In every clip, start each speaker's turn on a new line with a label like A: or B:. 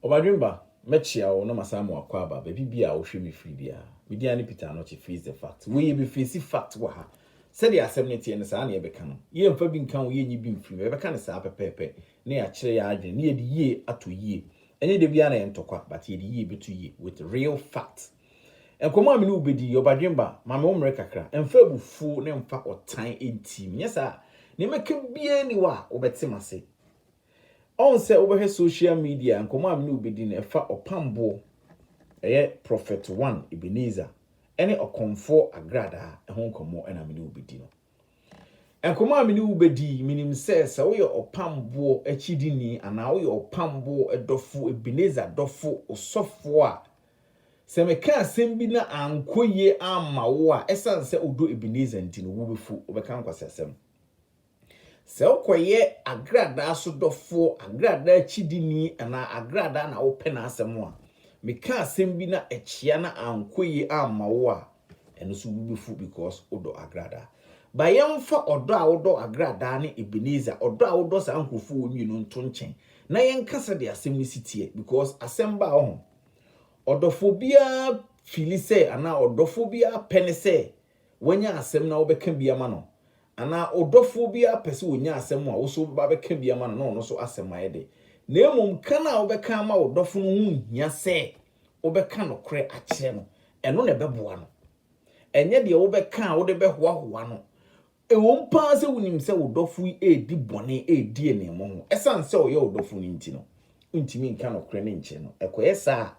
A: Ɔbadwen ba, mɛkyea wo na masan mo akɔ aba baabi biara a wohwɛ me firi biara. Me din ane Peter Anokye Face the Fact. Wei yɛbɛfeesi fact wɔ ha. Sɛdeɛ asɛm no teɛ no, saa na yɛbɛka no. Yɛmfa bi nka ho, yɛnyi bi mfiri mu. Yɛbɛka no saa pɛpɛɛpɛ na yɛakyerɛ yɛn adwene na yɛde yie ato yie. Ɛnyɛ da biara na ɛyɛ ntɔkwa but yɛde yie bɛto yie with real facts. Nkɔmmɔ a me ne wo bedi yi, Ɔbadwemba, ma me wo mmere kakra. Mfa abufuo na mfa ɔtan ntim. Nyɛ saa a, nea mɛka biara nni hɔ a wobɛte m'ase. Ɔn sɛ wobɛhwɛ social media a, nkɔmmɔ a me ne wo bedi no, ɛfa ɔpamboɔ, ɛyɛ Prophet One Ebenezer, ne Ɔkɔmfoɔ Agradaa ho nkɔmmɔ na me ne wo bedi no. Nkɔmmɔ a me ne wo bedi yi, menim sɛ, sɛ woyɛ ɔpamboɔ akyidini anaa woyɛ ɔpamboɔ dɔfo, Ebenezer dɔfo, osɔfoɔ a, Sɛ meka asɛm bi na ankɔ yie amma wo a, ɛsiane sɛ wodɔ Ebenezer nti no, wobɛfu, wobɛka nkwaseasɛm. Sɛ wokɔyɛ agradaa so dɔfoɔ, agradaa akyidini anaa agradaa na wopɛ n'asɛm a, meka asɛm bi na ɛkyea na ankɔ yie amma wo a, ɛno nso wobɛfu because wodɔ agradaa. Ba yɛmfa ɔdɔ a wodɔ agradaa ne Ebenezer, ɔdɔ a wodɔ saa nkurɔfoɔ wei mmienu nto nkyɛn na yɛnka sɛdeɛ asɛm no si teɛ because asɛm baa wo ho. Ɔdɔfo biara fili sɛ anaa ɔdɔfo biara pɛ ne sɛ wanya asɛm na wobɛka bi ama no. Anaa wo dɔfo biara pɛ sɛ ɔnya asɛm a wo nso wobɛba abɛka bi ama no na ɔno nso asɛm ayɛ dɛ. Na mmom ka no a wobɛka ama wo dɔfo no ho nhia sɛ wobɛka nokorɛ akyerɛ no, ɛno na ɛbɛboa no. Ɛnyɛ deɛ wobɛka a wode bɛhoahoa no. Ɛwom paa sɛ wunim sɛ wo dɔfo yi redi bɔne redi aniammɔ ho, esiane sɛ ɔyɛ wo dɔfo no nti no, wuntumi nka nokore no nkyere no. Ɛkɔyɛ saa a,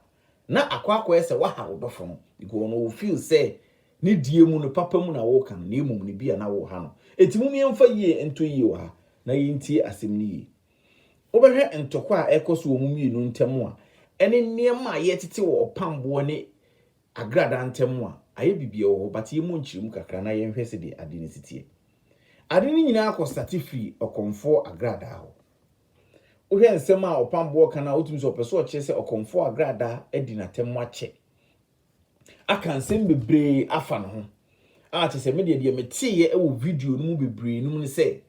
A: na akɔ akɔyɛ sɛ woaha wo dɔfo no, because na ɔ feel sɛ ne deɛ mu no, papa mu na woreka no, na mmom no ebia na woreha no. Enti mom yɛmfa yie nto yie wɔ ha, na yɛntie asɛm no yie. Wobɛhwɛ ntɔkwa a ɛrekɔ so wɔ mo mmienu ntam a, ɛne nneɛma a yɛretete wɔ ɔpamboɔ ne Agradaa ntamu a, ayɛ bibia wɔ hɔ but yɛmmɔ nkyerɛmu kakra na yɛnhwɛ sɛdeɛ ade no si teɛ. Ade no nyinaa kɔ starte firi ɔkɔmfoɔ agradaa hɔ. Wohwɛ nsɛm a ɔpamboɔ ka no a wotumi sɛ ɔpɛ sɛ ɔkyerɛ sɛ ɔkɔmfoɔ agradaa adi n'atamu akyɛ. Aka nsɛm bebree afa ne ho a kyerɛ sɛ me deɛ deɛ meteeɛ wɔ video no mu bebree no mu ne sɛ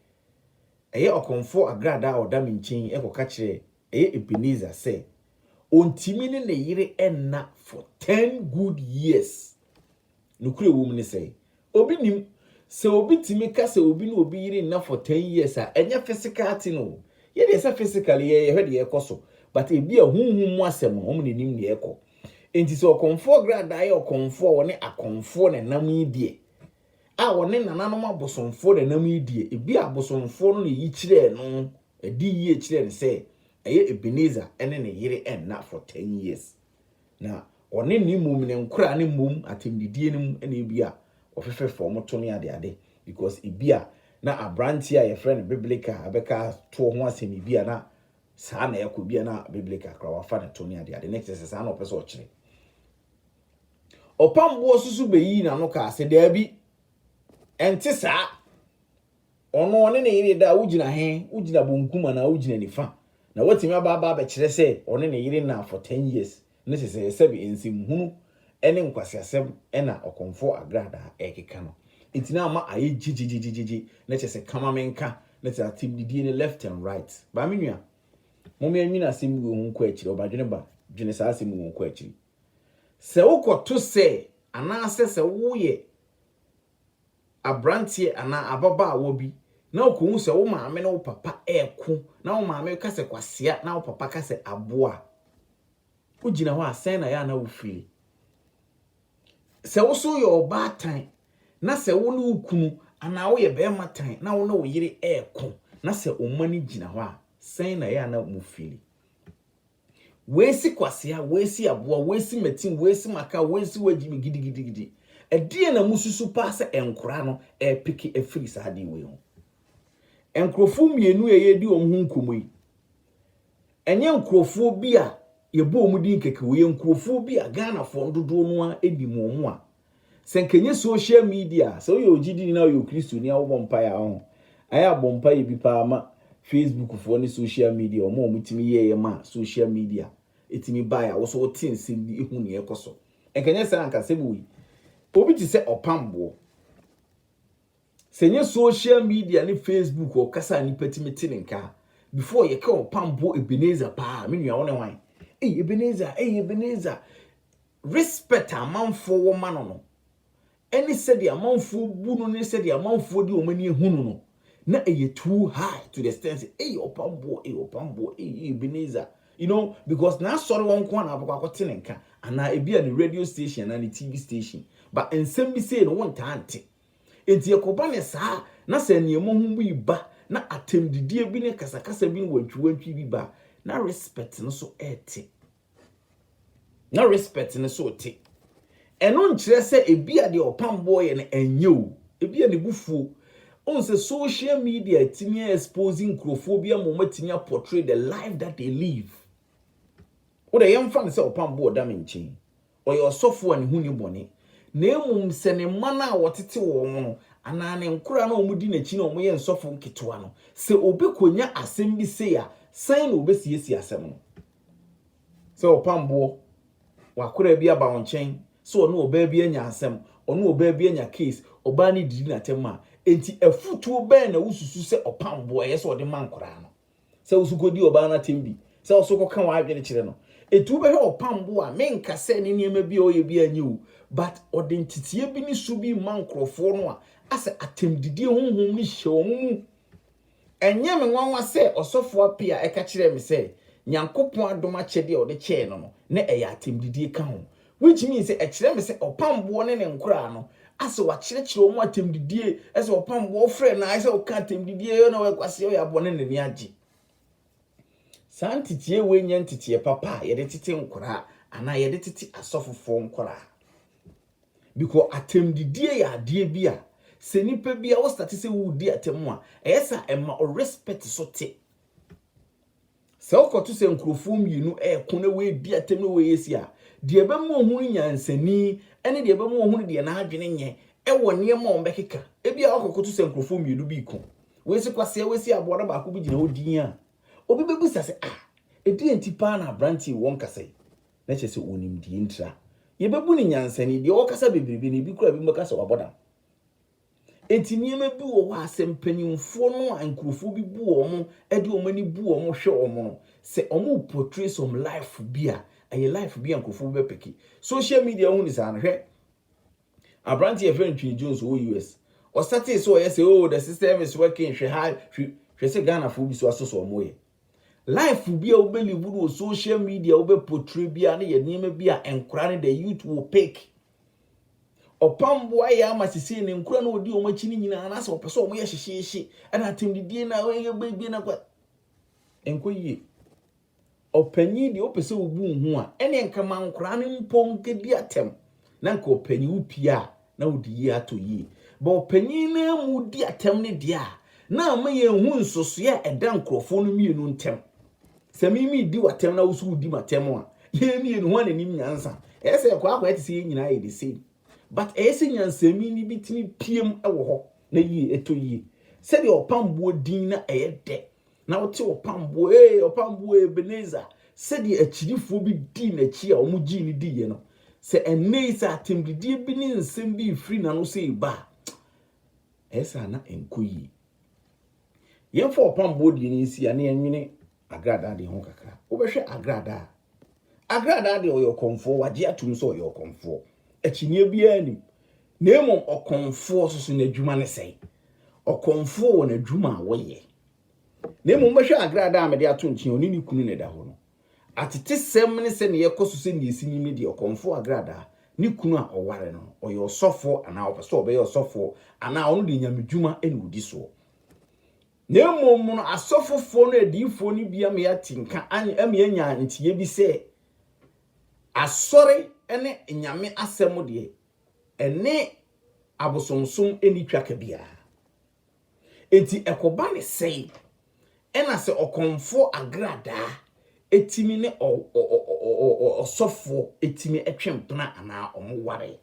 A: ɛyɛ ɔkɔmfoɔ agradaa a ɔda me nkyɛn yi kɔka kyerɛɛ ɛyɛ Ebenezer sɛ ontumi ne ne yere nna for ten good years. Nokorɛ a ɛwɔ mu ne sɛ, obi nnim. Sɛ obi tumi ka sɛ obi ne obi yere nna for ten years a, ɛnyɛ physical thing o. Yɛ deɛ sɛ physically yɛ yɛhwɛ deɛ ɛkɔ so, but ebia honhom mu asɛm no, wɔn na ɛnim deɛ ɛkɔ. Enti sɛ ɔkɔmfoɔ Gradaa yɛ ɔkɔmfoɔ a ɔne akɔmfoɔ na ɛnam yi deɛ, a ɔne nananom abosomfoɔ na ɛnam yi deɛ, ebia abosomfoɔ no na ɛyi kyerɛɛ no Ɛde yie kyerɛɛ no sɛ ɛyɛ Ebenezer ne ne yere nna for ten years. Na ɔne ne mmom ne nkoraa ne mmom atɛmdidie no mu na ebia wɔfefɛ fɔm to ne adeade because ebia na abranteɛ a yɛfrɛ no Biblica bɛka toɔ ho asɛm ebia na saa na ɛkɔ ebia na Biblica koraa wafa ne to ne adeade ne kyerɛ sɛ saa na ɔpɛ sɛ ɔkyerɛ. Ɔpamboɔ soso bɛyii n'ano kaa sɛ daabi ɛnte saa. Ɔno, ɔne ne yere da a, wogyina he? Wogyina bonkum anaa wogyina nifa? Na woatumi aba aba abɛkyerɛ sɛ ɔne ne yere nnaa for ten years no sesɛɛ sɛbe nsɛm hunu ne nkwaseasɛm na ɔkɔmfo agradaa rekeka no nti na ama ayɛ gyegye-gyegye-gyegye na kyerɛ sɛ kama me nka ne te atem didie no left and right. Ba me nua, mome nwene asɛm wei ho nkɔ akyiri, ɔbadwene ba, dwene saa asɛm wei ho nkɔ akyiri. Sɛ wokɔto sɛ anaasɛ sɛ woyɛ aberanteɛ anaa ababaawa bi na ɔkɔhu sɛ wo maame ne wo papa reko na wo maame ka sɛ kwasea na wo papa ka sɛ aboa a, wogyina hɔ a sɛn na ɛyɛ a na wo fili? Sɛ wo so yɛ ɔbaatan na sɛ wo ne wo kunu anaa woyɛ bɛrima tan na wo ne wo yere reko na sɛ wo mma no gyina hɔ a, sɛn na ɛyɛ a na mo fili? Woesi kwasea, woesi aboa, woesi matin, woesi maka, woesi wagyi me gidigidigidi. Ɛdeɛn na mosusu paa sɛ nkora no repeke afiri saa adeɛ wei ho? Nkurɔfoɔ mmienu a yɛredi wɔn ho nkɔmmɔ yi, ɛnyɛ nkurɔfoɔ bi a yɛbɔ wɔn din kɛkɛ, wɔyɛ nkurɔfoɔ bi a Ghanafoɔ no dodoɔ no ara nim wɔn a Sɛ nka ɛnyɛ social media a, sɛ woyɛ ogyidini na woyɛ okristoni a wobɔ mpaeɛ a, ɔho, ayɛ abɔ mpaeɛ bi paa ma Facebook foɔ ne social media, wɔn a wɔn tumi yɛeɛ ma social media ɛtumi baeɛ a woso wote nsɛm bi hu nea ɛkɔ so. Nka ɛnyɛ saa anka sɛ wei, obi te sɛ ɔpamboɔ. Sɛ ɛnyɛ social media ne Facebook ɔkasa a nnipa tumi te ne nka a, before yɛka ɔpampo Ebenezer paa, me nua wo ne hwan? Ei Ebenezer, ei Ebenezer. Respect a amanfoɔ wɔ ma no no, ɛne sɛdeɛ amanfoɔ bu no ne sɛdeɛ amanfoɔ de wɔn ani ahu no no, na ɛyɛ too high to the extent sɛ ei ɔpamboɔ, ei ɔpamboɔ, ei ei Ebenezer. You know, because n'asɔre hɔ nko a na abɛkɔ akɔte ne nka, anaa ebi a ne radio station anaa ne TV station, but nsɛm bi sei no wontaa nte. Enti ɛkɔba no saa a, na sɛ nneɛma hu bi reba, na atɛmdidie bi ne kasakasa bi ne wantwiwantwi bi ba a, na Respect no so rete. Na Respect no so rete. Ɛno nkyerɛ sɛ ebia deɛ ɔpam boɔ yɛ no ɛnyɛ o, ebia ne bo fuo. Wohu sɛ social media atumi a expose nkurɔfoɔ bi ama wɔatumi a portray the life that they live. Wo deɛ yɛmfa no sɛ ɔpam boɔ da me nkyɛn. Ɔyɛ ɔsɔfo a ne ho nni bɔne, na mmom sɛ ne mma no a wɔtete wɔn no anaa ne nkoraa no a wɔdi n'akyi na wɔyɛ nsɔfo nketewa no. Sɛ obi konya asɛm bi sei a, sɛn na obesiesie asɛm no? Sɛ ɔpam boɔ, w'akoraa bi aba wo nkyɛn sɛ ɔne ɔbaa bi anya asɛm, ɔne ɔbaa bi anya case, ɔbaa no didi no atɛm a, enti afutuo bɛn na wosusu sɛ ɔpam boɔ a ɛyɛ sɛ ɔde ma nkoraa no? sɛ wo nso kɔdi ɔbaa no atɛm bi, sɛ wo nso kɔka w'adwene kyerɛ no. Ɛti wobɛhwɛ ɔpam bo a, menka sɛ ne nneɛma bi a ɔyɛ biara nyɛ o, but ɔde nteteɛ bi ne su bi rema nkurɔfoɔ no a, asɛ atɛmdidie honhom no hyɛ wɔn mu. Ɛnyɛ me nwanwa sɛ Ɔsɔfoɔ Appiah ɛka kyerɛɛ me sɛ Nyankopɔn adom akyɛdeɛ a ɔde kyɛɛ no no, na ɛyɛ atɛmdidie ka ho. Wei tumi yɛ sɛ ɛkyerɛ me sɛ ɔpam boɔ ne ne nkoraa no asɛ wakyerɛkyerɛ wɔn atɛmdidie, ɛsɛ ɔpam boɔ ɔfrɛ no ayɛ sɛ ɔka atɛmdidie yɛ na ɔyɛ kwaseɛ ɔyɛ aboɔ ne n'ani agye. Saa nteteɛ wei nyɛ nteteɛ papa a yɛde tete nkoraa anaa yɛde tete asɔfofoɔ nkoraa. Bikɔ atɛmdidie yɛ adeɛ bi a sɛ nipa bi a wostate sɛ wodi atɛm a ɛyɛ sɛ ɛma ɔrespɛte so te. Sɛ ɔkɔto sɛ nkurɔfoɔ mmienu reko na wei redi atɛm na wei yɛ sei a, deɛ ɛbɛma ɔhunu nyansani ne deɛ ɛbɛma ɔhunu deɛ n'adwene nyɛ wɔ nneɛma a wɔbɛkeka. Ebia woakɔkoto sɛ nkurɔfoɔ mmienu bi reko, wei se kwasea, wei se aboa na baako bi gyina hɔ dinn a, obi bɛbisa sɛ, Ah, ɛdeɛn nti paa na aberanteɛ yi ɔnkasa yi? Na kyerɛ sɛ ɔnim deɛ enti a. Yɛbɛbu no nyansani. Deɛ ɔkasa bebrebe no, ebi koraa ebinom bɛka sɛ wabɔ dam. Enti nneɛma bi wɔ hɔ a sɛ mpanimfoɔ no a nkurɔfoɔ bi bu wɔn de wɔn ani bu wɔn hwɛ wɔn no, sɛ wɔre portray some life bi a, ɛyɛ life bi a nkurɔfoɔ bi bɛpeke. Social media ho ne saa no, hwɛ aberanteɛ yɛfrɛ no Twene Jones ɔwɔ US. Ɔsatee sɛ ɔyɛ sɛ oh the system is working hwɛ ha hwɛ hwɛ sɛ Ghanafoɔ bi so asɔ sɛ wɔyɛ. Life bi a wobɛ live no wɔ social media wobɛ portray biara no yɛ nneɛma bi a nkora no the youth will pick. Ɔpamboa yɛ ama sisi ne nkora no odi wɔn akyi no nyinaa anaasɛ wɔpɛ sɛ wɔn yɛ hyehyeehye ɛna atɛmdidie na wɔyɛ bɛbie na kɔ nkɔ yie. Ɔpanyin deɛ wopɛ sɛ wobu ho a ɛne nka ma nkora no mpo nkɛdi atɛm Na nka ɔpanyin wo pie a na wode yie atɔ yie. Bɔ ɔpanyin no ara mu di atɛm no deɛ a, na ama yɛahu nsosoɛ a ɛda nkurɔfoɔ no mmienu ntɛm. Sɛ me medi w'atɛm na wo nso wodi m'atɛm a, yɛn mmienu hwan na anim nyansa? Ɛyɛ sɛ ɛkɔ akɔyɛ te sɛ yɛn nyinaa yɛ the same. But ɛyɛ sɛ nyansani no bi tumi piam wɔ hɔ na yie ɛtɔ yie. Sɛdeɛ ɔpamboɔ din na ɛyɛ dɛ Na wote ɔpam boɔ ee ɔpam boɔ Ebenezer sɛdeɛ akyirifoɔ bi dii n'akyi a wɔn gyii no diiɛ no sɛ ɛnne yi sɛ atɛmdidie bi ne nsɛm bi refiri n'ano sɛ eba a ɛyɛ sɛ ana ɛnkɔ yie. Yɛmfa ɔpam boɔ deɛ no nsi a ne yɛnwene agradaa deɛ ho kakra. Wobɛhwɛ agradaa agradaa deɛ ɔyɛ ɔkɔmfoɔ wagye atom sɛ ɔyɛ ɔkɔmfoɔ akyinnyeɛ biara nim Na mmom ɔkɔmfoɔ nso so n'adwuma ne sɛn? Ɔkɔmfoɔ wɔ n'adwuma a wɔyɛ. Na mmom mobɛhwɛ agradaa a mede ato nkyɛn a ɔne ne kunu na ɛda hɔ no. Atetesɛm ne sɛdeɛ ɛkɔ so sɛdeɛ ɛsi nim no deɛ, ɔkɔmfoɔ agradaa, ne kunu a ɔware no no, ɔyɛ ɔsɔfoɔ anaa ɔpɛ sɛ ɔbɛyɛ ɔsɔfoɔ, anaa ɔno deɛ nyamedwuma na ɔdi soɔ. Na mmom no asɔfofoɔ ne adiyifoɔ no bi ama yɛate nka, ama yɛanya nteɛ bi sɛ, Asɔre ne nyame asɛm deɛ, Ɛne abosomsom nni twaka biara. Enti ɛkɔba ne sɛe, ɛna sɛ ɔkɔmfoɔ agradaa tumi ne ɔsɔfoɔ tumi twe mpena anaa wɔware.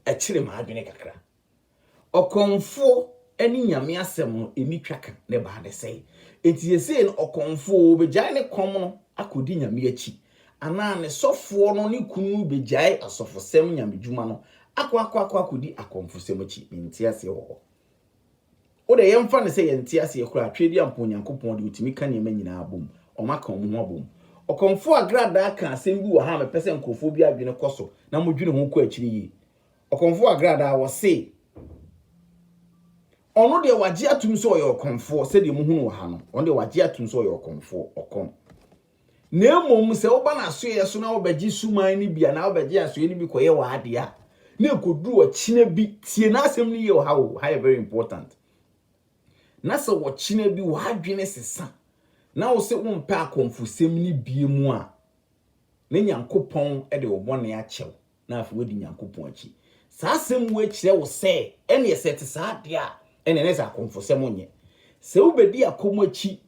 A: Ɛkyere m'adwene kakra. Ɔkɔmfoɔ ne Nyame asɛm no ɛnni twa ka, ne baa ne sɛe. Enti seesei no ɔkɔmfoɔ ɔbɛgyae ne kɔm no akɔdi Nyame akyi, anaa ne sɔfoɔ no ne kunu no bɛgyae asɔfosɛm Nyamedwuma no akɔ akɔ akɔ akɔdi akɔmfosɛm akyi. Mente aseɛ wɔ hɔ. O deɛ yɛmfa no sɛ yɛnte aseɛ koraa a, Tweaduampɔn Nyankopɔn deɛ ɔtumi ka nneɛma nyinaa bom. Ɔmaka wɔn ho abom. Ɔkɔmfoɔ Agradaa kaa asɛm bi wɔ ha a mepɛ sɛ nkorɔfoɔ bi adwene kɔ so na modwene ho kɔ akyire yie. Ɔkɔmfoɔ agradaa wɔ se. Ɔno deɛ wɔagye atum sɛ ɔyɛ ɔkɔmfoɔ sɛdeɛ mohunu wɔ ha no, ɔno deɛ wɔagye atum sɛ ɔyɛ ɔkɔmfoɔ, ɔkɔm. Na mmom sɛ woba n'asoɛeɛ so na wobɛgye suman no bi anaa wobɛgye asoɛeɛ no bi kɔyɛ w'adeɛ a, na ɛkɔduru ɔkyena bi, tie n'asɛm no yie wɔ ha o, ha yɛ very important, na sɛ ɔkyena bi w'adwene sesa na wo se wompɛ akɔmfosɛm no bie mu a, na Nyankopɔn de wo bɔne akyɛ wo. na afei woadi Nyankopɔn akyi. Saa asɛm wei kyerɛ wo sɛ, ɛneɛ sɛ ɛte saa deɛ a, ɛneɛ na ɛsɛ akomfosɛm nyɛ. Sɛ wobɛdi akom akyi,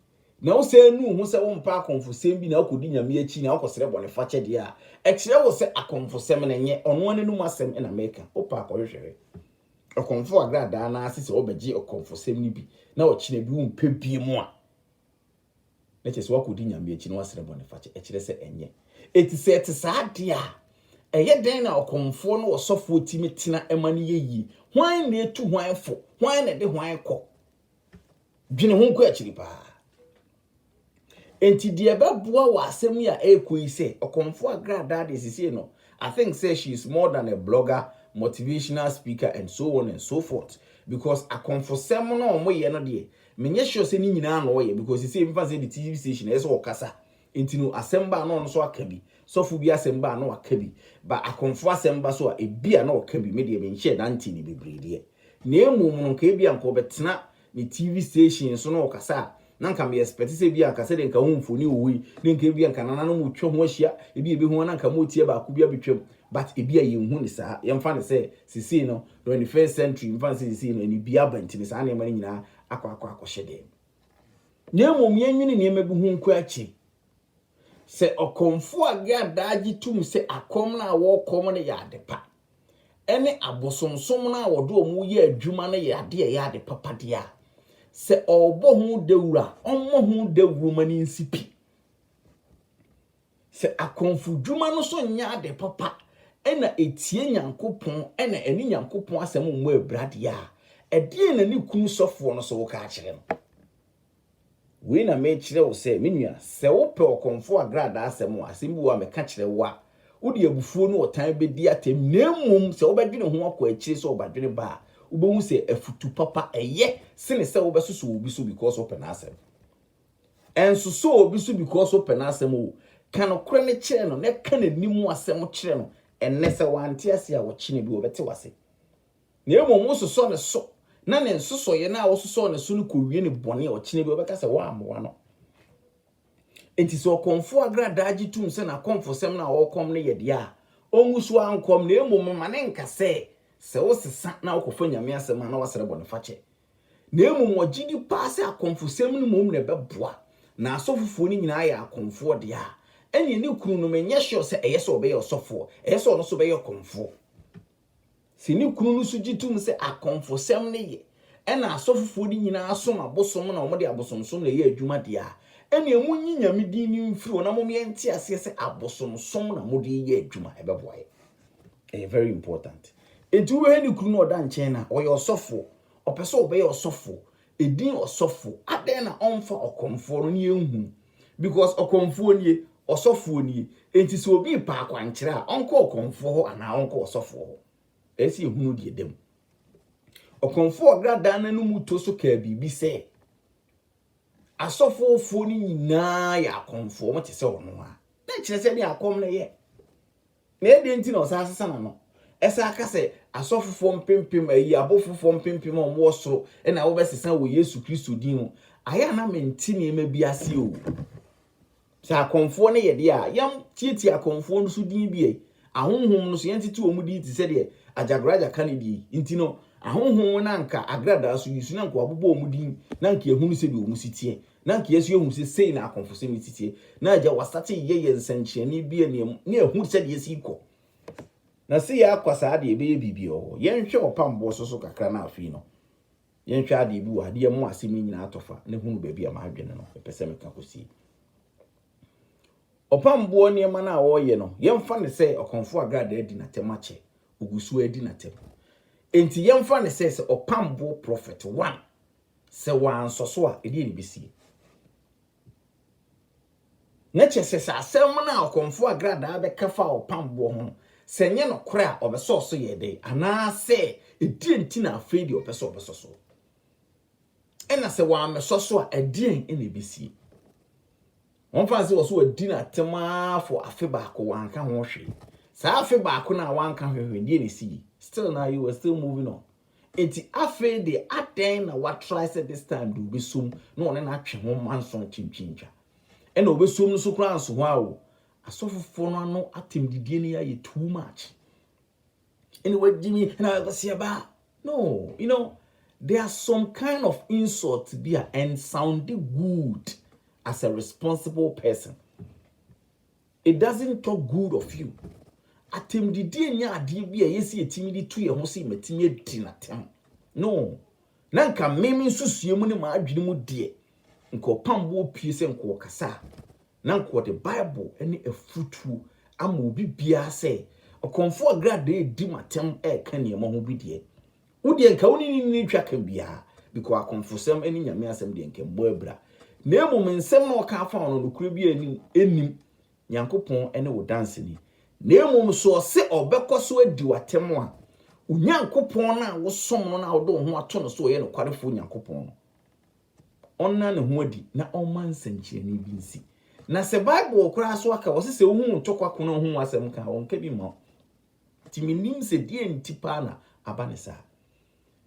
A: na wosane nu wo ho sɛ wompɛ akomfosɛm bi na wokɔdi Nyame akyi na wokɔsrɛ bɔnefakyɛ deɛ a, ɛkyerɛ wo sɛ akomfosɛm no nyɛ ɔno ara n'anom asɛm na meka. Wopɛ a kɔhwehwɛ hwɛ. Ɔkomfo agradaa no ara se sɛ wobɛgye ɔkomfosɛm no bi na ɔkyena bi wompɛ bio a, na kyerɛ sɛ woakɔdi Nyame akyi na woasrɛ bɔnefakyɛ, ɛkyerɛ sɛ ɛnyɛ. Enti sɛ ɛte saa deɛ a, ɛyɛ dɛn na ɔkɔmfoɔ ne ɔsɔfoɔ tumi tena ma no yɛ yie? Hwan na ɛtu hwan fo? Hwan na ɛde hwan kɔ? Dwene ho kɔ akyiri paa. Enti deɛ ɛbɛboa wɔ asɛm yi a ɛrekɔ yi sɛ, ɔkɔmfoɔ agradaa deɛ sisei no, I think sɛ she is more than a blogger, motivational speaker and so on and so forth because akɔmfosɛm no a wɔyɛ no deɛ, Menyɛ sure sɛ ne nyinaa na ɔyɛ because sesei mefa no sɛ yɛde TV station ɛyɛ sɛ ɔkasa nti no asɛm ba a na ɔno nso aka bi, sɔfo bi asɛm ba a na waka bi, ba Akonfo asɛm ba so a ebia na ɔka bi, me deɛ menhyɛɛ da ntee no bebree deɛ. Na mmom no nka ebia nka ɔbɛtena ne TV station so na ɔkasa a na nka me expect sɛ ebia nka sɛdeɛ nka wo mfoni wɔ hɔ yi na nka ebia nka nananom retwa ho ahyia, ebia yɛbɛhu a na nka moteɛ baako bi abɛtwam but ebia yɛnhu no saa, yɛmfa no sɛ sesei no Twenty first century mfa no sɛ sesei no anibia aba nti no saa nneɛma no nyinaa akɔ akɔ akɔhyɛ dɛn mu. Na mmom yɛnwene nneɛma bi ho nko akyi. Sɛ ɔkɔmfo a gɛ adaa gye tom sɛ akɔm no a wɔkɔm no yɛ ade pa, ɛne abosomsom no a wɔde wɔn yɛ adwuma no yɛ ade a ɛyɛ ade papa deɛ a, sɛ ɔrebɔ ho dawuro a, ɔmmɔ ho dawuro ma no nsi pi. Sɛ akɔmfodwuma no so nyɛ ade papa na etia Nyankopɔn na ɛne Nyankopɔn asɛm mmɔ abira deɛ a, ɛdeɛn na ne kunu sɔfoɔ no so woka akyerɛ no? Wei na mekyerɛ wo sɛ, me nua, sɛ wopɛ ɔkɔmfoɔ agradaa asɛm a, asɛm bi wɔ hɔ a meka kyerɛ wo a, wode abufuo ne ɔtan bɛdi atɛm, na mmom sɛ wobɛdwene ho akɔ akyire sɛ ɔbadwene ba a, wobɛhu sɛ afutu papa ɛyɛ sene sɛ wobɛsosɔ obi so because wopɛ n'asɛm. Ɛnsosɔ obi so because wopɛ n'asɛm oo. Ka nokorɛ no kyerɛ no na ka n'anim asɛm kyerɛ no ɛnnɛ. Sɛ wante ase a, ɔkyena bi ɔbɛte w'ase. Na mmom wososɔ ne so na ne nsosɔeɛ no a wososɔɔ ne so no kɔwie no bɔne a, ɔkyena bi ɔbɛka sɛ woammoa no. Enti sɛ ɔkɔmfoɔ agradaa gye tom sɛ n'akɔmfosɛm no a ɔrekɔm no yɛ deɛ a, ɔngu so ara nkɔm na mmom mma no nka sɛ, sɛ wosesa na wokɔfa Nyame asɛm a na woasrɛ bɔnefakyɛ. Na mmom wɔgye di paa sɛ akɔmfosɛm no mmom na ɛbɛboa, na asɔfofoɔ no nyinaa yɛ akɔmfoɔ deɛ a, ɛnneɛ ne kunu no menyɛ sure sɛ ɛyɛ sɛ ɔbɛyɛ ɔsɔfoɔ, ɛyɛ sɛ ɔno nso bɛyɛ ɔkɔmfoɔ. Sɛ ne kunu no nso gye tom sɛ akɔmfosɛm no yɛ, ɛna asɔfofoɔ no nyinaa som abosom na wɔde abosomsom na ɛyɛ adwuma deɛ a, ɛnneɛ monyi Nyame din no mfiri hɔ na mom yɛnte aseɛ sɛ abosomsom na mode reyɛ adwuma, ɛbɛboa yɛn. Ɛyɛ very important. Enti wobɛhwɛ ne kunu no a ɔda nkyɛn no a, ɔyɛ ɔsɔfoɔ. Ɔpɛ sɛ ɔbɛyɛ ɔsɔfoɔ. Edin ɔsɔfoɔ. Adɛn na ɔmfa ɔkorɔmfoɔ no ne yɛnhunu? Because ɔkorɔmfoɔ nie, ɔsɔfoɔ nie. Enti sɛ obi repɛ akwankyerɛ a, ɔnkɔ ɔkorɔmfoɔ hɔ anaa ɔnkɔ ɔsɔfoɔ hɔ? Ɛsɛ sɛ yɛhunu deɛ ɛda mu. Ɔkorɔmfoɔ a ɔda dan no anomuto so kaa biribi sɛ, Asɔfoɔfoɔ no nyinaa yɛ akorɔmfoɔ, wɔte sɛ ɔno ara. Na ɛkyerɛ sɛ ɛdeɛ akɔm na ɛyɛ. Na ɛdeɛn nti na ɔsan sesa n'ano san ka sɛ asɔfofoɔ mpempem, ayi abofofoɔ mpempem a wɔwɔ soro na wɔbɛsesa wɔ Yesu Kristo din mu? Ayɛ a na mente nneɛma bi ase o. Sɛ akɔmfoɔ no yɛ deɛ a, yɛntiatia akɔmfoɔ no so din bi ɛ. Ahonhom no so yɛntete wɔn din te sɛ deɛ Agyagoraja ka ne deɛ yi. Nti no, ahonhom no anka agradaa so yi so na anka wɔabobɔ wɔn din na anka yɛahunu sɛdeɛ wɔn si teɛ. Na nka yɛnso yɛhu sɛ sei na akɔmfosɛm no siteɛ. Na agya wasate yɛ yɛ nsɛnkyerɛnne bi a nea na ɛhu sɛdeɛ ɛsi rekɔ. Na se yɛ akɔ saa deɛ ɛbɛyɛ biribi wɔ hɔ. Yɛnhwɛ wɔ pamboɔ so so kakra na afei no yɛnhwɛ adeɛ bi wɔ ha de yɛ mo asɛm no nyinaa atɔfa na hunu baabi a m'adwene no ɛpɛ sɛ meka kɔsie. Ɔpamboɔ nneɛma no a ɔreyɛ no yɛmfa no sɛ ɔkɔmfoɔ agradaa adi n'atɛm akyɛ, ɔgu so ara di n'atɛm. Enti yɛmfa no sɛ sɛ ɔpamboɔ prɔfɛt one Sɛ wɔansɔ so a, ɛdeɛn na ɛbɛsie? Na kyerɛ sɛ, sɛ asɛm no a ɔkɔmfoɔ agradaa bɛka fa ɔpam boɔ ho no, sɛ ɛnyɛ nokorɛ a, ɔbɛsɔɔ so yɛɛ dɛn? Anaa sɛ, ɛdeɛn nti na afei deɛ ɔpɛ sɛ ɔbɛsɔ so? Ɛna sɛ wammɛsɔ so a, ɛdeɛn na ɛbɛsie? Wɔmfa no sɛ wɔ so wadi no atɛm ara for afe baako, wanka ho hwee. Saa afe baako no a wanka ho hwee, deɛ na ɛsii? Still na you were still moving on. Enti afei deɛ adɛn na watrae sɛ this time deɛ ɔbɛsom na ɔne no atwe ho manso ntwentwentwa? Ɛna ɔbɛsom no so koraa nso hɔ a o, asɔfofoɔ no ano atɛmdidie no yɛayɛ too much. Ɛna wagye mi na ɔkɔseɛ baa. No, you know, there are some kind of insult bi a ɛnsounde good as a responsible person. It doesn't talk good of you Atɛmdidie nyɛ adeɛ bi a ɛyɛ sɛ yɛtumi de tu yɛn ho sɛ matumi adi no atɛm No, na nka me me nsusue mu ne m'adwene mu deɛ nka ɔpam boɔ pue sɛ nka ɔkasa a na nka ɔde Bible ne afutuo ama obi biara sɛ ɔkɔmfoɔ a gradɛɛ redi m'atɛm reka nneɛma ho bi deɛ Wo deɛ nka wo ne ne nni twa ka biara, bikɔ akɔmfosɛm ɛne Nyame asɛm deɛ nka mmɔ abira. Na mmom nsɛm na ɔka afa wo no nokorɛ biara nni mu, ɛnnim, Nyankopɔn ɛne wo danseni. Na mmom sɛ ɔse ɔbɛkɔ so adi wo atɛm a, wo Nyankopɔn no a wosom no na wode wo ho ato no sɛ ɔyɛ nokwarefoɔ Nyankopɔn no, ɔnna ne ho adi na ɔmma nsɛnkyerɛnne bi nsi. Na sɛ Bible koraa so aka, ɔse sɛ wohu wo ntɔkwa ko na wohu wo asɛm ka a, ɔnka bi mma wo. Nti mennim sɛ deɛn nti paa na aba ne saa.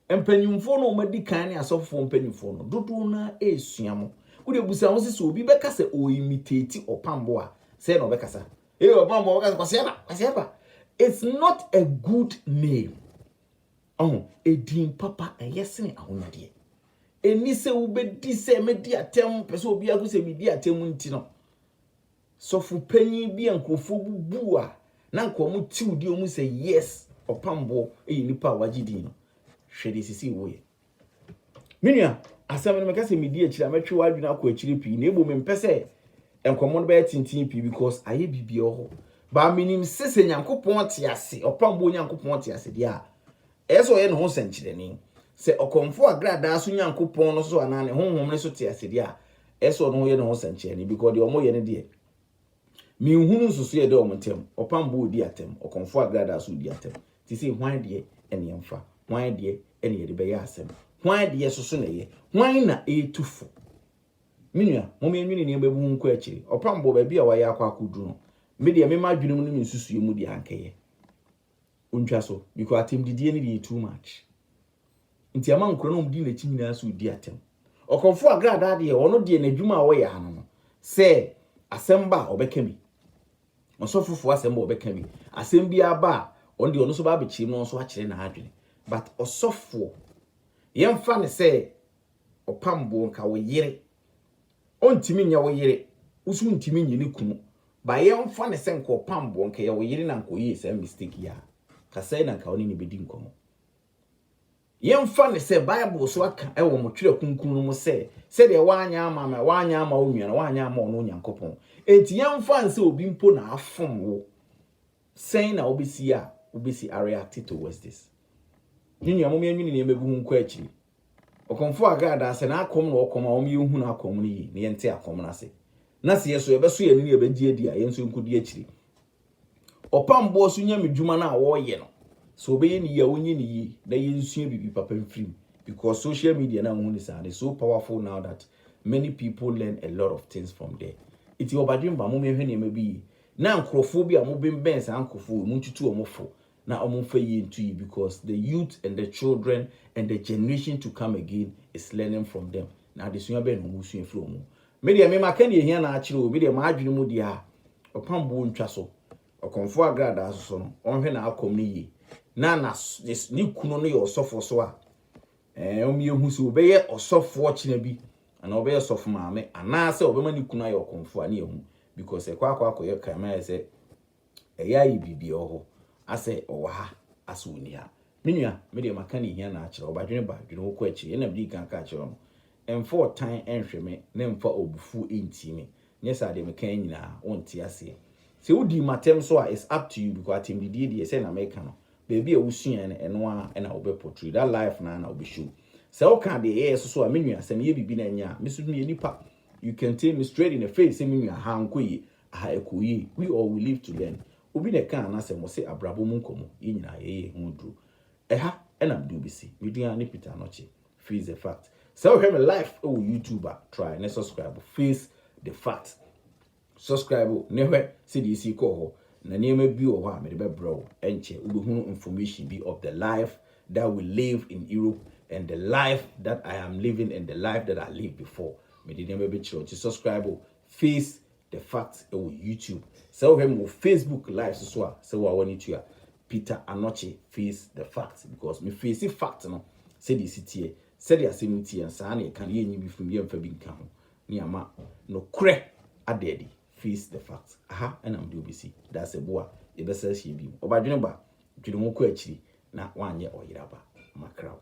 A: Mpanyimfoɔ no a wɔadi kan ne asɔfofoɔ mpanyimfoɔ no, dodoɔ no ara resua mo. Wodeɛ busa ho sɛ sɛ obi bɛka sɛ ɔreimitate ɔpambo a, sɛn na ɔbɛkasa? Ee ɔpambo ɔbɛka sɛ Kwasi Aba, Kwasi Aba. It's not a good name. Ɔho, edin papa ɛyɛ sene ahonyadeɛ. Ɛni sɛ wobɛdi sɛ mɛdi atɛm, pɛ sɛ obiara hu sɛ medi atɛm nti no. Sɔfo panyin bi a nkurɔfoɔ bu bu a na nka wɔn tiw di wɔn sɛ yes ɔpamboɔ yɛ nipa a wagye din no hwɛ deɛ sisi wo yɛ me nua asɛm no meka sɛ medi akyire a mɛtwe w'adwene akɔ akyire pii na ebo mempɛ sɛ nkɔmmɔ no bɛyɛ tenten pii because ayɛ biribi wɔ hɔ baa menim sɛ sɛ nyankopɔn te ase ɔpamboɔ nyankopɔn te ase deɛ a Ɛyɛ sɛ ɔyɛ ne ho sɛnkyerɛnne. Sɛ ɔkɔmfo a gradaa so Nyankopɔn no so anaa ne honhom no so te ase deɛ a, ɛyɛ sɛ ɔno yɛ ne ho sɛnkyerɛnne, because deɛ wɔyɛ no deɛ, menhunu nsusuiɛ a ɛda wɔn ntam. Ɔpam bo ɔdi atɛm, ɔkɔmfo a gradaa so ɔdi atɛm. Te sei, hwan deɛ na yɛmfa? Hwan deɛ na yɛde bɛyɛ asɛm? Hwan deɛ so so na ɛyɛ? Hwan na ɛretu fo? Me nua, momma yɛnwene nneɛma bi ho nkɔ akyire. Ɔpam bo, baabi a wayɛ akɔ akɔduru no, me deɛ, me m'adwenem ne me nsusuiɛ mu deɛ, anka ɛyɛ. Ontwa so because atɛmdidie no deɛ too much nti ama nkura no ɔmdi nakyi nyinaa so redi atɛm. Ɔkɔmfo agradaa deɛ ɔno deɛ n'adwuma a ɔyɛ ano no sɛ asɛm ba a ɔbɛka bi, ɔsɔfofo asɛm ba ɔbɛka bi, asɛm bi aba a ɔno deɛ ɔno nso ba abɛkyerɛ mu na ɔnso akyerɛ n'adwene but ɔsɔfoɔ yɛmfa ne sɛ ɔpamboɔ nka wo yere Ɔntumi nyɛ wo yere, wo nso wontumi nyɛ ne kunu. But yɛmfa no sɛ nka ɔpam boɔ, nka ɛyɛ wo yere na nka ɔyɛɛ saa mistake yi a, nka sɛn na nka wo ne no bɛdi nkɔmmɔ? Yɛmfa no sɛ Bible so aka wɔ mo twerɛ kronkron no mu sɛ, sɛdeɛ woanyɛ ama me, woanyɛ ama wo nua no, woanyɛ ama ɔno Onyankopɔn. Enti yɛmfa no sɛ obi mpo na afom wo. Sɛn na wobesi a wobesi areacte to westis? Me nua, mom yɛnwene nneɛma bi ho nkɔ akyiri. Ɔkɔmfo Hagai daa sɛ n'akɔm na ɔkɔm a wɔn yɛ nhu n'akɔm no yie na yɛnte akɔm no ase. Na sɛ yɛso yɛbɛso yɛn ani na yɛbɛgye adi a, yɛn nso yɛnkɔdi akyiri. Ɔpam boɔ so nyamedwuma no a wɔreyɛ no, sɛ wɔbɛyɛ no yie a wɔnyɛ no yie na yɛnsua biribi papa mfiri mu because social media no a wohu no saa no is so powerful now that many people learn a lot of things from there. Nti ɔbadwemma, mom yɛnhwɛ nneɛma bi yie. Na nkorɔfoɔ bi a ɔmo benbɛn saa nkorɔfoɔ wei montutu ɔmo fo na ɔmo nfa yie nto yie because the youth and the children and the generation to come again is learning from them na adesua bɛn na ɔmo sua firi ɔmo hɔ me deɛ me maka deɛ ɛhia na akyerɛ oo me deɛ m'adwene mu deɛ a ɔpam boɔ ntwa so ɔkɔmfoɔ agradaa soso no ɔnhwɛ n'akɔm no yie na na ne kunu no yɛ ɔsɔfoɔ so a ɛɛ ɔmo yɛ hu sɛ ɔbɛyɛ ɔsɔfoɔ kyena bi Anaa ɔbɛyɛ sɔfo maame anaasɛ ɔbɛma ne kunu ayɛ ɔkomfo a ne yɛ hu because ɛkɔ akɔ akɔ yɛ crime ayɛ sɛ ɛyɛ ayɛ biribi ɛwɔ hɔ asɛ ɔwɔ ha asɛ ɔni ha me nua me deɛ maka ne hia na akyerɛ ɔba dwene ba dwene wokɔ akyire ɛna medi kan aka akyerɛ wo no ɛmfa ɔtan ɛnhwɛ me na ɛmfa ɔbufuo ɛntie me nyɛ saa deɛ meka yɛ nyinaa wonte aseɛ sɛ wodi matɛm so a it's up to you because atɛmdidie deɛ sɛ na meka no baabi a wosuae no ɛno ara na wobɛ portray, that life no ara na wobɛ show. Sɛ woka deɛ ɛyɛɛ so so a, me nua, sɛ meyɛ biribi na ɛnyɛ a, me nso meyɛ nipa. You can tell me straight in the face sɛ me nua, ha ankɔ yie, aha ɛkɔɔ yie. We all we live to learn. Obi na ɛkaa n'asɛm, ɔse abrabɔ mu nkɔmmɔ, yɛn nyinaa yɛyɛ yɛn ho aduro. Ɛha na mede wobɛsi. Me din ara ne Peter Anokye. Face the fact. Sɛ wohwɛ me life wɔ YouTube a, try ne subscribe. Face the fact. Subscribe ne hwɛ sɛdeɛ ɛsii kɔɔ hɔ na nneɛma bi wɔ hɔ a mede bɛbrɛ wo ɛnkyɛ wobɛhunu information bi of the life that we live in Europe and the life that I am living and the life that I live before mede nneɛma bi kyerɛ wo nti subscribe face the facts ɛwɔ YouTube sɛ wohwɛ me wɔ Facebook live so so a sɛ wo a w'ani tu a Peter Anokye face the facts because me face fact no sɛdeɛ ɛsi teɛ sɛdeɛ asɛm no teɛ saa na ɛka no yɛnyi bi firi mu yɛmfa bi nka ho ne ama nokorɛ ada adi, face the fact, aha na mede wo bɛsi, dasebo a yɛbɛsa ahyia bio, ɔbadwene ba, dwene ho kɔ akyiri na woanyɛ ɔyere aba, makra wo.